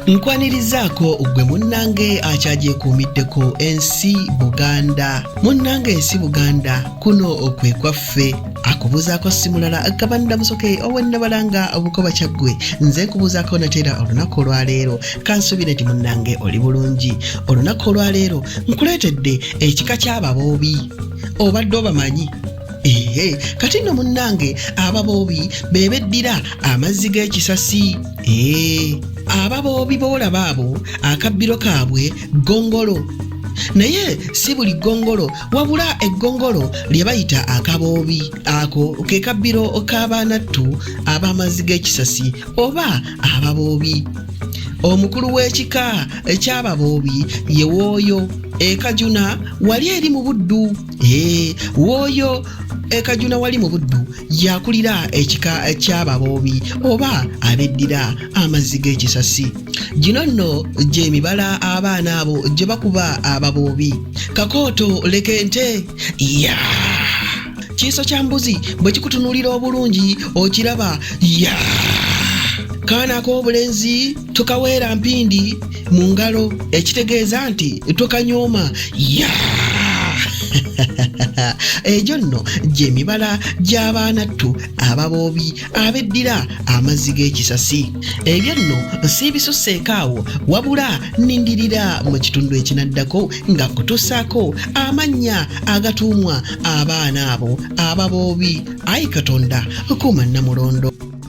nkwanirizaako ggwe munnange akyagyekuumiddeko ensi buganda munnange ensi buganda kuno okwe kwaffe akubuuzaako simulala agabanda musoke owennabalanga obukoba kyaggwe nze nkubuuzaako nateera olunaku olwaleero kansubire nti munnange oli bulungi olunaku olwaleero nkuleetedde ekika ky'ababoobi obadde obamanyi ehe kati nno munnange ababoobi bebeddira amazzi g'ekisasi ee eh, aba boobi boolaba abo akabbiro kaabwe ggongolo naye si buli ggongolo wabula eggongolo lye bayita akaboobi ako ke kabbiro k'abaanattu ab'amazzi g'ekisasi oba ababoobi omukulu w'ekika eky'ababoobi ye wooyo ekajuna wali eri mu buddu Eee, wooyo ekajuna wali mu buddu yakulira ekika ky'ababoobi oba abeddira amazzi g'ekisasi gino nno gy'emibala abaana abo gye bakuba ababoobi kakooto leka ente ya kiiso kya mbuzi bwe kikutunuulira obulungi okiraba ya kaana ak'obulenzi tukaweera mpindi mu ngalo ekitegeeza nti tukanyooma ya egyo nno gyemibala gy'abaanattu ababoobi abeddira amazzi g'ekisasi ebyo nno siibisuseeko awo wabula nindirira mu kitundu ekinaddako nga kutusaako amannya agatuumwa abaana abo ababoobi ayi katonda kuuma namulondo